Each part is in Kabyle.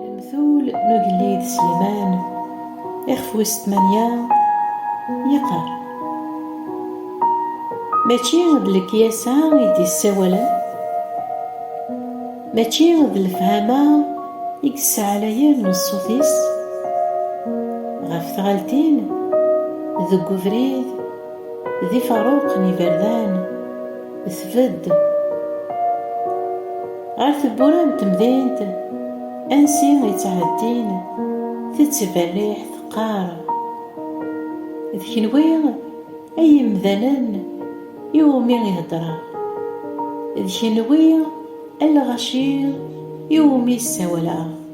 Lemtul n ugellid Sleman, ixef wis tmanya, yeqqar, Mačči d lekyasa i d-yessawalen, mačči d lefhama i yesseɛlayen ṣṣut-is ɣef tɣaltin deg ubrid, D ifaruq n iberdan, tbedd. Ɣer tewwura n temdint, ansi i ttɛeddin, tettberriḥ teqqar, D kenwi ay imdanen i wumi i heddreɣ, d kenwi a lɣaci i wumi i ssawaleɣ.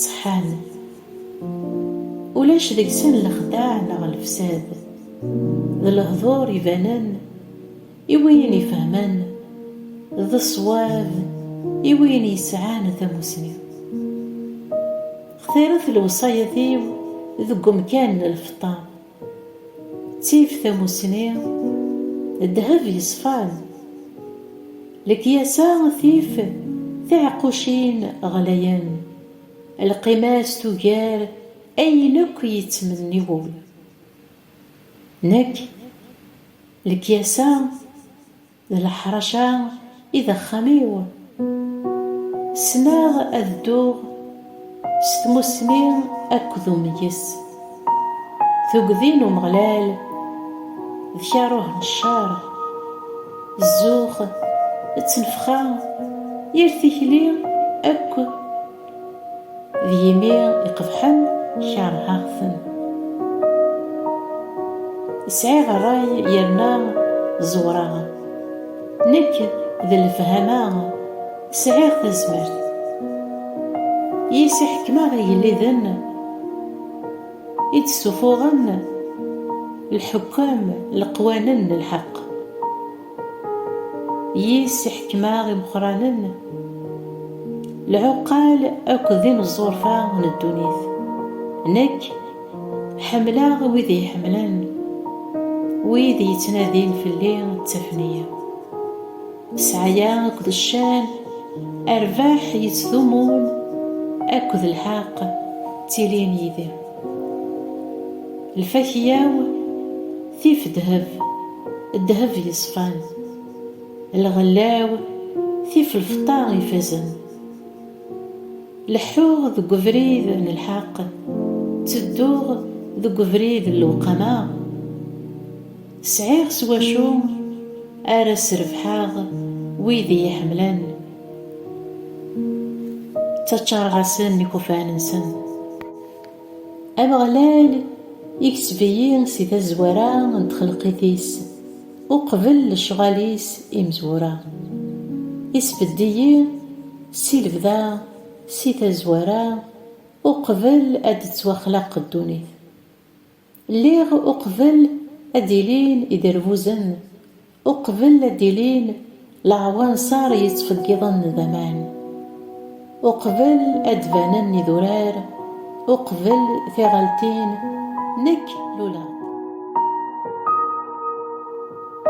Ṣeḥḥan. Ulac deg-sen lexdeɛ neɣ lefsad. D lehdur ibanen i wiyin ifehmen, d ṣṣwab i wiyin yesɛan tamusni. Xtiret lewṣayat-iw deg umkan n lfeṭṭa. Ttif tamussni, ddheb yeṣfan. Lekyasa tif tiɛeqqucin ɣlayen. Lqima-s tugar ayen akk yettmenni wul. Nekk, lekyasa. D leḥṛaca i d axxam-iw. Ssneɣ ad dduɣ s tmussni akked umeyyes. Tugdi n Umeɣlal d karuh n cceṛ. Zzux d tnefxa, yir tikli akk. D yimi iqebḥen keṛheɣ-ten. Sɛiɣ ṛṛay yerna ẓewreɣ. Nekk d lefhama sɛiɣ tazmert. Yis i ḥekmeɣ igelliden i d-ssufuɣen lḥukam leqwanen n lḥeqq. Yis iḥekmaɣ imeqqranen, lɛuqal akked imeẓẓurfa n ddunit. Nekk, ḥemmleɣ wid iyi-ḥemmlen, wid yettnadin fell-i ttafen-iyi. Sɛaya akked ccan, rrbeḥ yettdumun akked lḥeqq ttilin yid-i. Lfakya-w. Tif ddheb, ddheb yeṣfan. Lɣella-w tif lfeṭṭa ifazen. Leḥḥuɣ deg ubrid n lḥeqq, ttedduɣ deg ubrid n lewqama. Sɛiɣ s wacu ara srebḥeɣ wid i yi-ḥemmlen. Ttaččareɣ-asen ikufan-nsen. Ameɣlal ikseb-iyi si tazwara n txelqit-is, uqbel lecɣal-is imezwura. Isbedd-iyi si lebda, si tazwara, uqbel ad d-tettwaxlaq ddunit. Lliɣ uqbel ad d-ilin iderbuzen, Uqbel ad d-ilin leɛwanser yettfeggiḍen d aman, uqbel ad d-banen idurar, uqbel tiɣaltin, nekk luleɣ-d.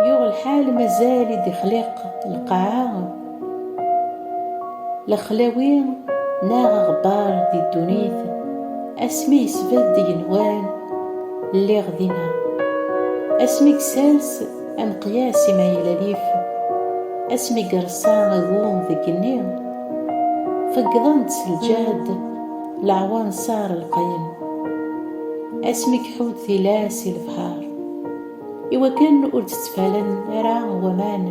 Yuɣ lḥal mazal i d-ixliq lqaɛa. Lexlawi neɣ aɣebbar di ddunit asmi yesbedd igenwan lliɣ dinna asmi yessers ameqyas i ma yella lif asmi yerṣa agum deg igenni feggḍen-d s lǧehd leɛwanṣar lqayen asmi iḥudd tilas i lebḥar iwakken ur d-ttfalen ara waman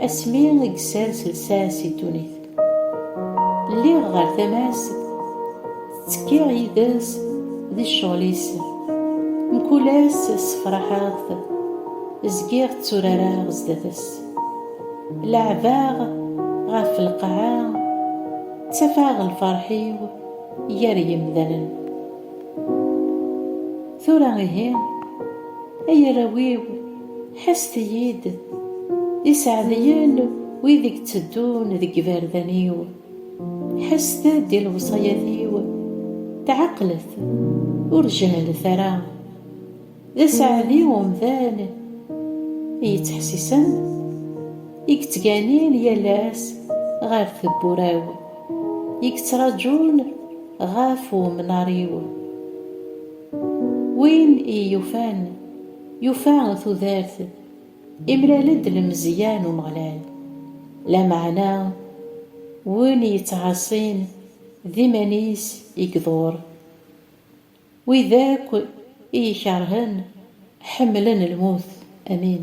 Asmi i yessers lsas i ddunit. Lliɣ ɣer tama-s, ttekkiɣ yid-s di ccɣel-is. Mkul ass ssefraḥeɣ-t, zgiɣ tturareɣ zdat-s. Leɛbeɣ ɣef lqaɛa, ttafaɣ lferḥ-iw gar yimdanen. Tura ihi, ay arraw-iw, Ḥesset-iyi-d, iseɛdiyen wid i itteddun deg yiberdan-iw, ḥesset-d i lewṣayat-iw, tɛeqlet, ur jehlet ara. D aseɛdi umdan i yettḥessisen, i yettganin yal ass ɣer tewwura-w, i yettraǧun ɣef umnar-iw. Win i iyi-yufan. Yufa tudert, imlal-d lemzeyya n Umeɣlal. Lameɛna, win yettɛaṣin, d iman-is i iḍur. Wid akk i ikerhen, ḥemmlen lmut. Amin.